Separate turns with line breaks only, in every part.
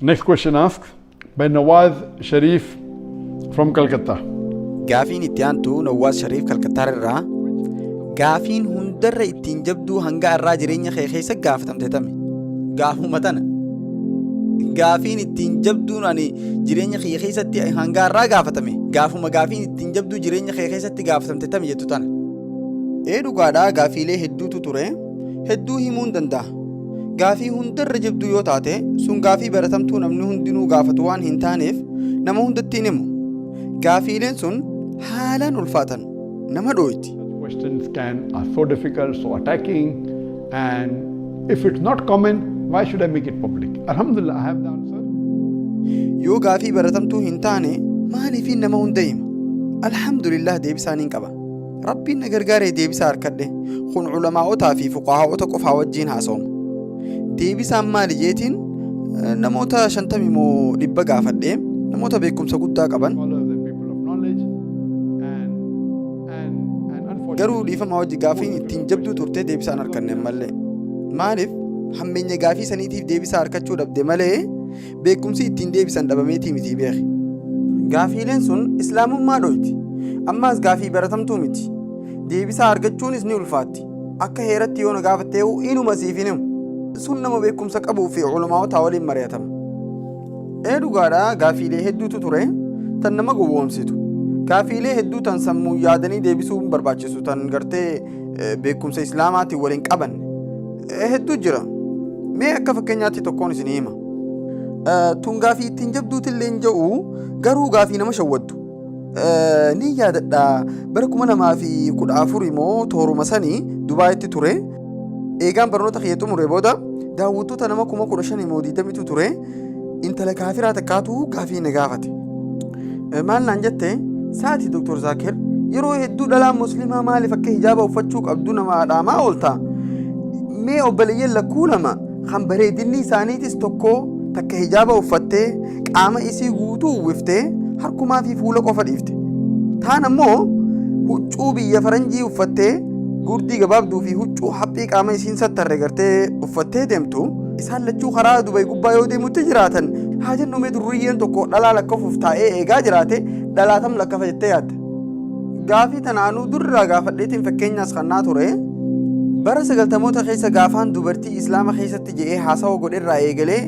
Next question asked by Nawaz Sharif from Calcutta. Gaafiin itti
aantu Nawwaas Shariif Kalkattaar irraa gaafiin hundarra ittiin jabduu hanga irraa jireenya kee keessa gaafatamte tami. Gaafuma tana. Gaafiin ittiin jabduun ani jireenya kee keessatti hanga irraa gaafatame. Gaafuma gaafiin ittiin jabduu jireenya kee keessatti gaafatamte tami jettu tana. Ee dhugaadhaa gaafiilee hedduutu ture. Hedduu himuu hin danda'a. Gaafii hundarra jabduu yoo taate sun gaafii baratamtuu namni hundinuu gaafatu waan hin taaneef nama hundatti hin himu. Gaafiileen sun haalaan ulfaatan nama dhooyti. questions can
are so difficult, so attacking, and if it's not common, why should I make it public? Alhamdulillah, I have the answer. Yoo
gaafii baratamtuu hin taane maaliifiin nama hunda hima? Alhamdulillah deebisaan hin qaba. Rabbiin na gargaaree deebisaa harkadhe. Kun ulamaa'otaa fi fuqahaa'ota qofaa wajjiin haasawama. Deebisaan maali jeetiin eh, namoota shantamii moo dhibba gaafadhe namoota beekumsa guddaa qaban Follow the people of knowledge and and and garuu unfortunately, dhiifama wajji gaafiin ittiin jabduu turte deebisaa hin harkanne malee. Maaliif hammeenya gaafii saniitiif deebisaa harkachuu dhabde malee beekumsi ittiin deebisan dhabameetii mitii beeki. Gaafiileen sun islaamummaa dhoyti. Ammaas gaafii baratamtuu miti. Deebisaa argachuunis ni ulfaatti. Akka heeratti yoo na gaafatte eewu inuma siif hin himu. Sun nama beekumsa qabuu fi ulamaa'otaa waliin mari'atama. Ee dhugaadha gaafiilee hedduutu ture tan nama gowwoomsitu. Gaafiilee hedduu tan sammuun yaadanii deebisuun barbaachisu tan gartee eh, beekumsa islaamaatiin wal hin qabanne eh, hedduu jira mee akka fakkeenyaatti tokkoon isin hima Eh, tun gaafii ittiin jabduutillee hin ja'u garuu gaafii nama shawwaddu Eh, ni yaadadha bara kuma lamaa fi kudha afur immoo tooruma sanii dubaayitti ture eegaan barnoota kiyya xumure booda daawwattoota nama kuma kudha shan immoo digdamitu ture intala kaafiraa takkaatu gaafii na gaafate. Eh, Maal naan jette saati Dr. Zaakir yeroo hedduu dhalaan musliimaa maaliif akka hijaaba uffachuu qabdu nama adhaamaa oolta. Mee obboleeyyan lakkuu lama kan bareedinni isaaniitis tokko takka hijaaba uffattee qaama isii guutuu uwwiftee harkumaa fi fuula qofa dhiifte. Taan ammoo huccuu biyya faranjii uffattee gurdii gabaabduu fi huccuu haphii qaama isiin sattarre gartee uffattee deemtu. Isaan lachuu karaa Dubay gubbaa yoo deemutti jiraatan haa jennu mee durriyyeen tokko dhalaa lakkafuuf taa'ee eegaa jiraate dhalaa tam lakkafa jettee yaadda. Gaafii tanaanuu durraa gaafadheetiin fakkeenyaas kannaa ture. Bara sagaltamoota keessa gaafaan dubartii Islaama keessatti je'ee haasawa godherraa eegalee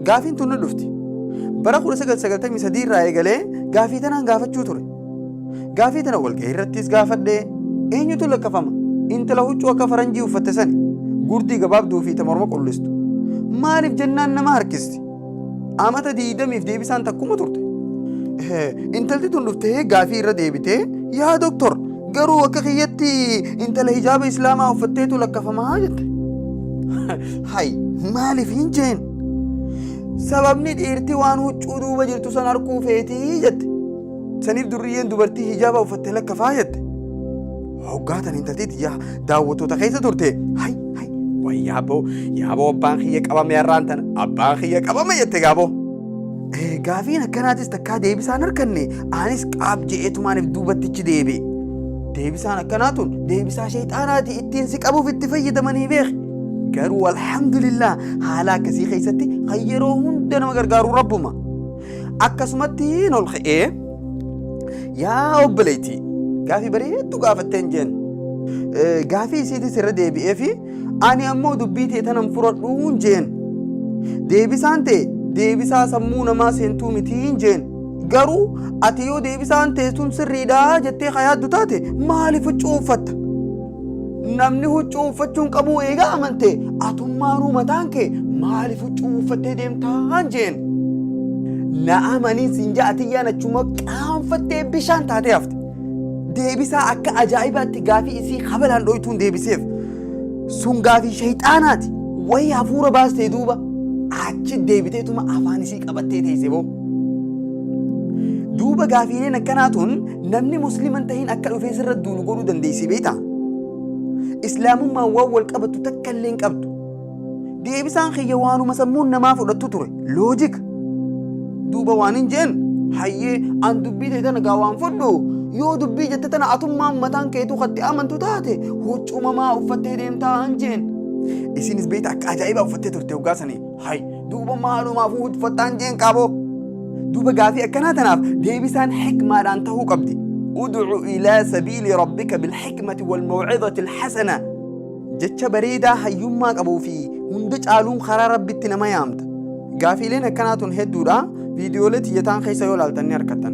gaafiin tun ni dhufti. Bara 1993 irraa eegalee gaafii tanaan gaafachuu ture. Gaafii tana walgahii irrattiis gaafadhe, Eenyutu lakkafama? Intala huccuu akka faranjii uffatte sani, gurdii gabaabduu fi ta morma qullistu. Maaliif jennaan nama harkisti. Amata 20f deebisaan takkuma turte. Intalti tun dhuftee gaafii irra deebitee, Yaa doktor, garuu akka kiyyatti intala hijaaba islaamaa uffatteetu lakkafamaa jette. Hay, maaliif hin jeen? Sababni dhiirti waan huccuu duuba jirtu san harkuu feetii jette. Saniif durriyyeen dubartii hijaaba uffatte lakka faayatte. Hoggaa tan intaltii tiyyaa daawwattoota keessa turte. Hay hay way yaaboo yaaboo abbaan kiyya qabame har'aan tan abbaan kiyya qabame jette gaaboo. Gaafiin akkanaatis takkaa deebisaan harkanne anis qaab je'eetumaaniif duubattichi deebi. Deebisaan akkanaa tun deebisaa sheexaanaati ittiin si qabuuf itti fayyadamanii beeki. Garuu alhamdulillah haala akkasii keessatti kan yeroo hunda nama gargaaru rabbuma. akkasumatti hin ol ka'ee yaa obboleettii gaafii bareedduu gaafatteen jeen gaafii isiitis irra deebi'ee fi ani ammoo dubbii tee tanan furadhuun jeen deebisaan tee deebisaa sammuu namaa seentuu mitiin jeen garuu ati yoo deebisaan tee sun sirriidhaa jettee ka yaaddu taate maaliif huccuu uffatta Namni huccuu uffachuun qabuu eegaa amante atummaanuu mataan kee maaliif huccuu uffattee deemtaan jeen. Na amanii siin ja'a atiyyaan achuma qaanfattee bishaan taatee hafte. Deebisaa akka ajaa'ibaatti gaafii isii habalaan dhoytuun deebiseef. Sun gaafii shayxaanaati. Wayii hafuura baastee duuba achi deebiteetuma afaan isii qabattee teesse boo. Duuba gaafiileen akkanaa tun Namni musliima hin tahin akka dhufee sirra duulu godhuu dandeessii beektaa? Islaamummaan waan wal qabattu takka illee hin qabdu. Deebisaan kiyya waanuma sammuun namaa fudhattu ture. Loojika. Duuba waan hin jeen hayyee an dubbii ta'e tana gaa waan fudhu yoo dubbii jette tana atummaan mataan keetuu katti amantu taate huccumamaa uffattee deemtaa hin jeen. Isinis beektaa akka ajaa'ibaa uffattee turte hoggaa sanii. Hay duuba maalumaaf hudfattaan jeen qaaboo. Duuba gaafii akkanaa tanaaf deebisaan hikmaadhaan tahuu qabdi. Udcu ilaa sabiili rabbika bilhikmati walmawcidati alhasana. Jecha bareedaa hayyummaa qabuu fi hunda caaluun karaa rabbitti nama yaamta. Gaafiileen akkanaa tun hedduudha. Viidiyoolee tiyyataan keessa yoo laaltan ni argattan.